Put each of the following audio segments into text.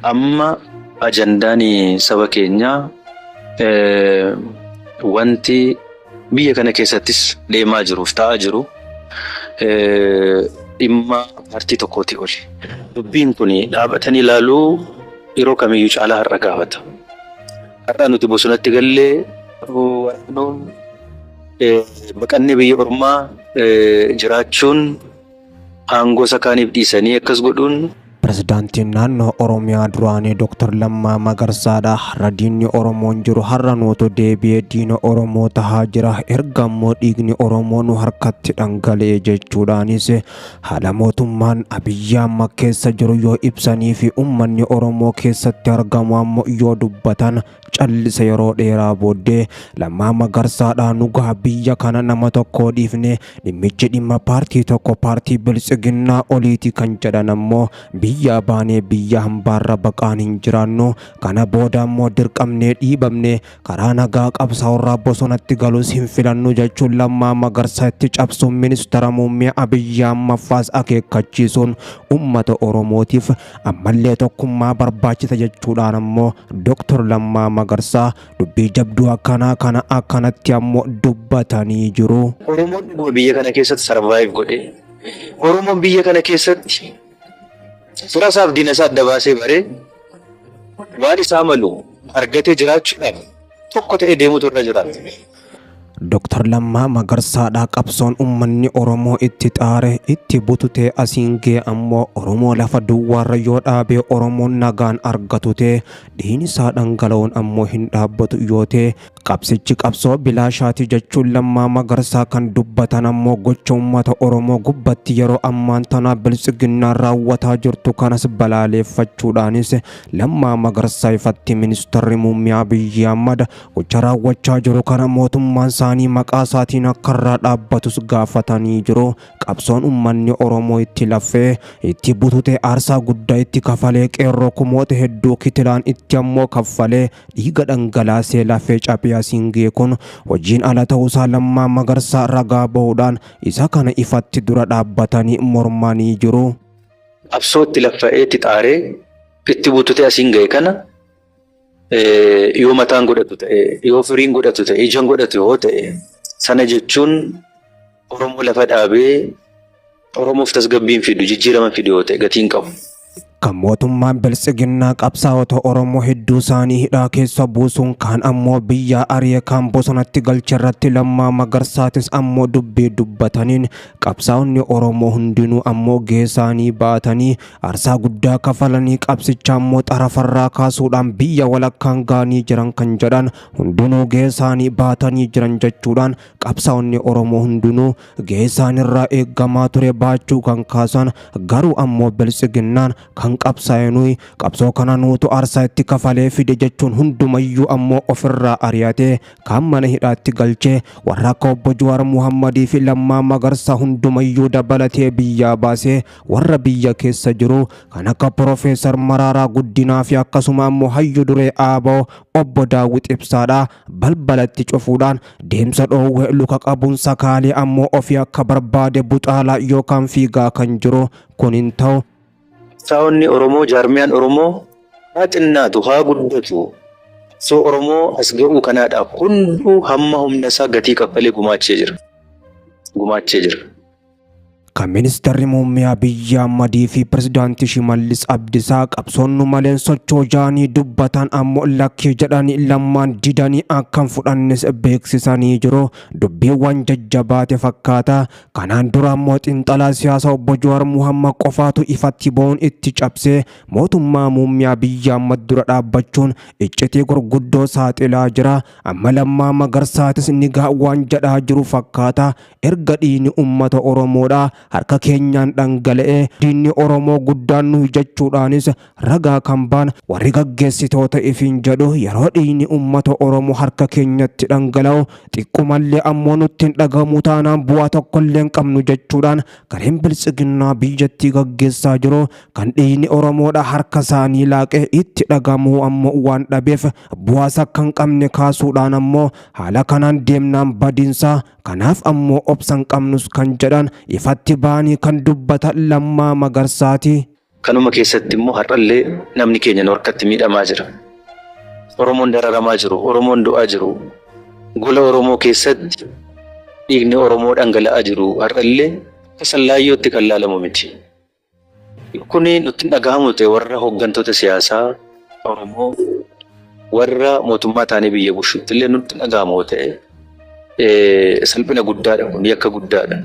Amma ajandaan saba keenyaa eh, wanti biyya kana keessattis deemaa jiruuf ta'aa jiru eh, dhimma paartii tokkooti oli. Dubbiin kun dhaabatanii ilaaluu yeroo kamiyyuu caalaa har'a gaafata. Har'a nuti bosonatti gallee waraanuun baqannee biyya ormaa jiraachuun aangoo isa kaaniif dhiisanii akkas godhuun Pirezidaantiin naannoo Oromiyaa duraanii Dr. Lammaa Magarsaadha. Har'a diinni Oromoon jiru har'a nuutu deebi'ee diina Oromoo tahaa jira. Erga ammoo dhiigni Oromoo nu harkatti dhangala'e jechuudhaanis Haala mootummaan Abiyyi amma keessa jiru yoo ibsanii fi ummanni Oromoo keessatti argamu ammoo yoo dubbatan callise yeroo dheeraa booddee Lammaa Magarsaadhaa nugaa biyya kana nama tokkoo dhiifne dhimmichi dhimma paartii tokko paartii biltsiginnaa oliiti kan jedhan ammoo biyyaa baanee biyya hambaarra baqaan hin jiraannu kana booda ammoo dirqamnee dhiibamne Karaa nagaa qabsaa'urraa bosonatti galus hin filannu jechuun Lammaa Magarsaa itti cabsuun ministara muummee Abiyyi ammaffaas akeekkachiisuun uummata Oromootiif ammallee tokkummaa barbaachisa jechuudhaan ammoo Dr. Lammaa Magarsaa dubbii jabduu akkanaa kana akkanatti ammoo dubbatanii jiru. Oromoon dhuguma biyya kana keessatti sarvaayiv godhee Oromoon biyya kana keessatti Fira isaaf diina isaa adda baasee baree waan isaa malu argatee jiraachuudhaaf tokko ta'ee deemutu irra jiraata. Dr. Lammaa Magarsaadhaa qabsoon ummanni Oromoo itti xaare itti bututee asiin gee ammoo Oromoo lafa duwwaarra yoo dhaabee Oromoon nagaan argatutee dhiini isaa dhangala'uun ammoo hin dhaabbatu yoo ta'e Qabsichi qabsoo bilaashaati jechuun Lammaa Magarsaa kan dubbatan ammoo gocha uummata Oromoo gubbatti yeroo ammaan tanaa biltsiginnaan raawwataa jirtu kanas balaaleeffachuudhaanis Lammaa Magarsaa ifatti ministarri muummee Abiyyi Ahmad gocha raawwachaa jiru kana mootummaan isaanii maqaa isaatiin akka irraa dhaabbatus gaafatanii jiru. Qabsoon ummanni Oromoo itti laffee, itti bututee aarsaa guddaa itti kafalee qeerroo kumoota hedduu kitilaan itti ammoo kaffalee dhiiga dhangalaasee lafee caphee asiin ga'e kun hojiin ala ta'uusaa Lammaa Magarsaa ragaa bahuudhaan isa kana ifatti dura dhaabbatanii mormanii jiru. Qabsoo itti laffa'ee, itti xaaree, itti bututee asiin ga'e kana, yoo mataan godhatu ta'e, yoo firiin godhatu ta'e, ijaan godhatu yoo ta'e sana jechuun Oromoo lafa dhaabee Oromoof tasgabbiin fidu, jijjiirama fidu yoo ta'e gatiin qabu. Kan mootummaan biltsiginnaa qabsaa'ota Oromoo hedduu isaanii hidhaa keessa buusuun kaan ammoo biyyaa ari'e kaan bosonatti galche irratti lammaa magarsaatis ammoo dubbii dubbataniin qabsaa'onni Oromoo hundinuu ammoo geesaanii baatanii Arsaa guddaa kafalanii qabsicha ammoo xarafarraa kaasuudhaan biyya walakkaan gaanii jiran kan jedhan hundinuu geessaanii baatanii jiran jechuudhaan qabsaa'onni Oromoo hundinuu geessaanirraa eeggamaa ture baachuu kan kaasan garuu ammoo biltsiginnaan kan qabsaa'e nuyi qabsoo kana nuutu arsaa itti kafalee fide jechuun hundumayyuu ammoo ofirraa ari'atee kaan mana hidhaatti galchee warra akka obbo Juwaar Muhammadii fi Lammaa Magarsaa hundumayyuu dabalatee biyyaa baasee warra biyya keessa jiru kan akka Profeesar Maraaraa Guddinaa fi akkasuma ammoo hayyu duree ABO obbo Daawwit Ibsaadha balbalatti cufuudhaan deemsa dhoowwe luka qabuun sakaalee ammoo ofii akka barbaade buxaalaa yookaan fiigaa kan jiru kun hin ta'u. Qabsaa'onni Oromoo jaarmiyaan Oromoo haa xinnaatu haa guddatu qabsoo Oromoo as ga'uu kanaadhaaf hunduu hamma humna isaa gatii kaffalee gumaachee jira. Gumaachee jira. Kan ministarri muummee Abiyyi Ahmadii fi pirezidaantii Shimallis Abdisaa qabsoon nu maleen socho'u jedhanii dubbatan ammoo lakkii jedhanii lammaan didanii akka hin fudhannes beeksisanii jiru. Dubbiin waan jajjabaate fakkaata. Kanaan dura ammoo xiinxalaa siyaasaa obbo Jawaar Muhammad qofaatu ifatti ba'uun itti cabsee mootummaa muummee Abiyyi Ahmad dura dhaabbachuun iccitii gurguddoo saaxilaa jira. Amma Lammaa Magarsaatis nigaa waan jedhaa jiru fakkaata. Erga dhiigni ummata Oromoodhaa harka keenyaan dhangala'ee diinni Oromoo guddaan nuyi jechuudhaanis ragaa kan ba'an warri gaggeessitoota ifiin jedhu yeroo dhiigni ummata Oromoo harka keenyatti dhangala'u xiqqumallee ammoo nutti hin dhagahamuu taanaan bu'aa tokkollee hin qabnu jechuudhaan gareen Biltsiginnaa biyyattii gaggeessaa jiru kan dhiigni Oromoodhaa harka isaanii laaqe itti dhagahamuu ammoo waan dhabeef bu'aas akka hin qabne kaasuudhaan ammoo haala kanaan deemnaan badiinsa Kanaaf ammoo obsa hin qabnus kan jedhan ifatti bahanii kan dubbatan Lammaa Magarsaati. Kanuma keessatti immoo har'allee namni keenya nu harkatti miidhamaa jira. Oromoon dararamaa jiru, Oromoon du'aa jiru, gola Oromoo keessatti dhiigni Oromoo dhangala'aa jiru har'allee akka sallaayyootti kan laalamu miti. Kun nutti hin dhagahamu ta'e warra hooggantoota siyaasaa Oromoo warra mootummaa taanee biyya bushutti illee nutti hin dhagahamu yoo ta'e eh, salphina guddaadha kun yakka guddaadha.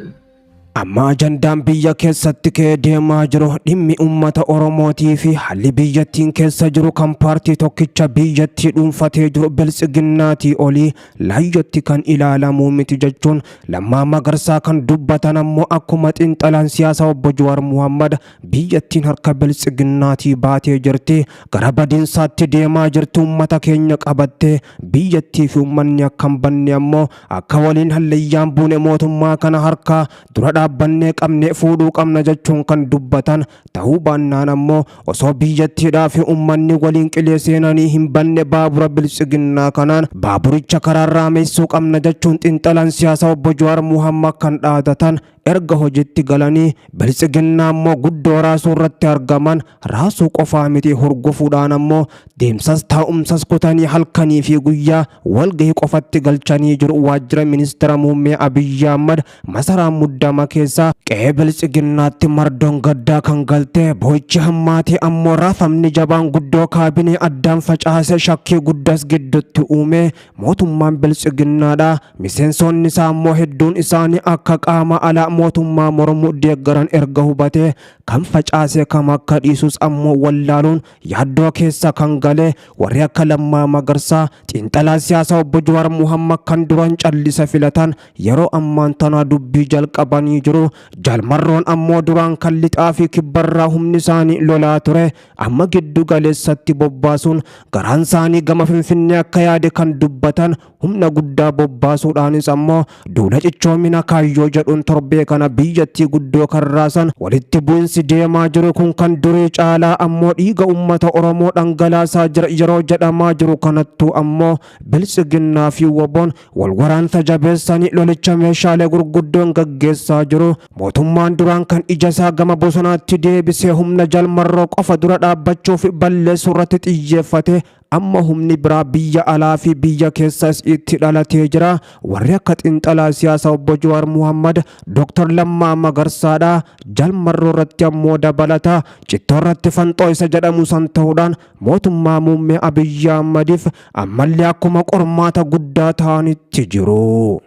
Amma ajandaan biyya keessatti ka'ee deemaa jiru dhimmi uummata Oromootii fi haalli biyyattiin keessa jiru kan paartii tokkicha biyyattii dhuunfatee jiru biltsiginnaatii olii laayyootti kan ilaalamuu miti jechuun Lammaa Magarsaa kan dubbatan ammoo akkuma xiinxalaan siyaasa obbo Jawaar Muhammad biyyattiin harka biltsiginnaatii baatee jirti gara badiinsaatti deemaa jirti uummata keenya qabattee biyyattii fi uummanni akka hin banne ammoo akka waliin halleeyyaan buune mootummaa kana harkaa dura dhaabbannee qabnee fuudhuu qabna jechuun kan dubbatan Ta'uu baannaan ammoo osoo biyyattiidhaa fi ummanni waliin qilee seenanii hin banne baabura biltsiginnaa kanaan baaburicha karaa raameessuu qabna jechuun xinxalaan siyaasa obbo Jawaar Muhammad kan dhaadatan erga hojitti galanii biltsiginnaa ammoo guddoo raasuu irratti argaman raasuu qofaa miti hurgufuudhaan ammoo deemsas taa'umsas kutanii halkanii fi guyyaa walgahii qofatti galchanii jiru waajjira ministeera muummee Abiyyi Ahmad Masaraa muddama keessa qe'ee biltsiginnaatti mardoon gaddaa kan galte boochi hammaate ammoo raafamni jabaan guddoo kaabinee addaan facaase shakkii guddas giddutti uume mootummaan biltsiginnaadha miseensoonni isaa ammoo hedduun isaanii akka qaama alaa mootummaa mormu deeggaran erga hubate kan facaase kam akka dhiisus ammoo wallaaluun yaaddoo keessa kan gale warri akka lammaa magarsaa xiinxalaa siyaasaa obbo Jawaar Muhammad kan duran callisa filatan Yeroo ammaan tana dubbii jalqabanii jiru. Jaal Marroon ammoo duraan kan lixaa fi kibbarraa humni isaanii lolaa ture amma giddu galeessatti bobbaasuun garaan isaanii gama Finfinnee akka yaade kan dubbatan humna guddaa bobbaasuudhaanis ammoo duula cichoomina kaayyoo jedhuun torbee kana biyyattii guddoo kan raasan walitti bu'insi deemaa jiru kun kan durii caalaa ammoo dhiiga uummata Oromoo dhangalaasaa jira yeroo jedhamaa jiru kanattuu ammoo biltsiginnaa fi woboon Walwaraansa jabeessanii lolicha meeshaalee gurguddoon gaggeessaa jiru. Mootummaan duraan kan ija isaa gama bosonaatti deebisee humna jalmarroo qofa dura dhaabbachuu fi balleessuu irratti xiyyeeffate amma humni biraa biyya alaa fi biyya keessas itti dhalatee jira. Warri akka xinxalaa siyaasa obbo Jawaar Muhammad, Dr. Lammaa Magarsaadha. Jalmarroo irratti ammoo dabalata. Cittoo irratti fanxoo isa jedhamu san ta'uudhaan mootummaa muummee Abiyyi Ahmadiif ammallee akkuma qormaata guddaa ta'anitti jiru.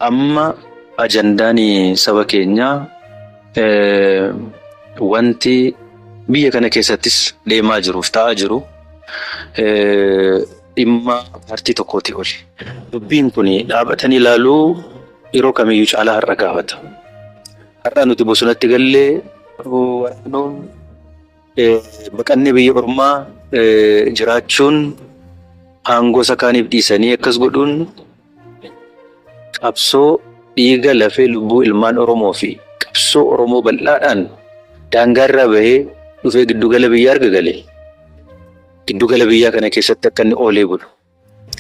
Amma ajandaan saba keenyaa wanti biyya kana keessattis deemaa jiruuf ta'aa jiru dhimma paartii tokkootii oli. Dubbiin kun dhaabatanii ilaaluu yeroo kamiyyuu caalaa har'a gaafata. Har'a nuti bosonatti gallee waraanoon Baqannee biyya ormaa jiraachuun aangoo isa kaaniif dhiisanii akkas godhuun qabsoo dhiiga lafee lubbuu ilmaan Oromoo fi qabsoo Oromoo bal'aadhaan daangaarraa bahee dhufee giddugala biyyaa erga gale giddugala biyyaa kana keessatti akka inni oolee bulu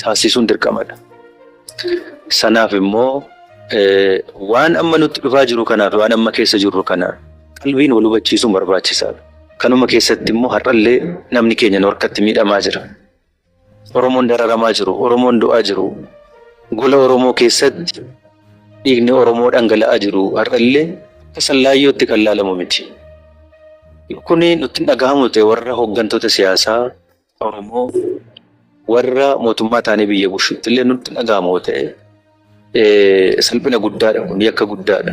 taasisuun dirqamadha. Sanaaf immoo waan amma nutti dhufaa jiru kanaaf waan amma keessa jirru kana qalbiin wal hubachiisuun barbaachisaadha. Kanuma keessatti immoo har'allee namni keenya nu harkatti miidhamaa jira. Oromoon dararamaa jiru, Oromoon du'aa jiru, gola Oromoo keessatti dhiigni Oromoo dhangala'aa jiru har'allee akka sallaayyootti kan laalamu miti. Kuni nutti hin dhagahamu ta'e warra hooggantoota siyaasaa Oromoo warra mootummaa taanee biyya bushutti illee nutti dhaga'ama yoo ta'e eh, salphina guddaadha kun yakka guddaadha.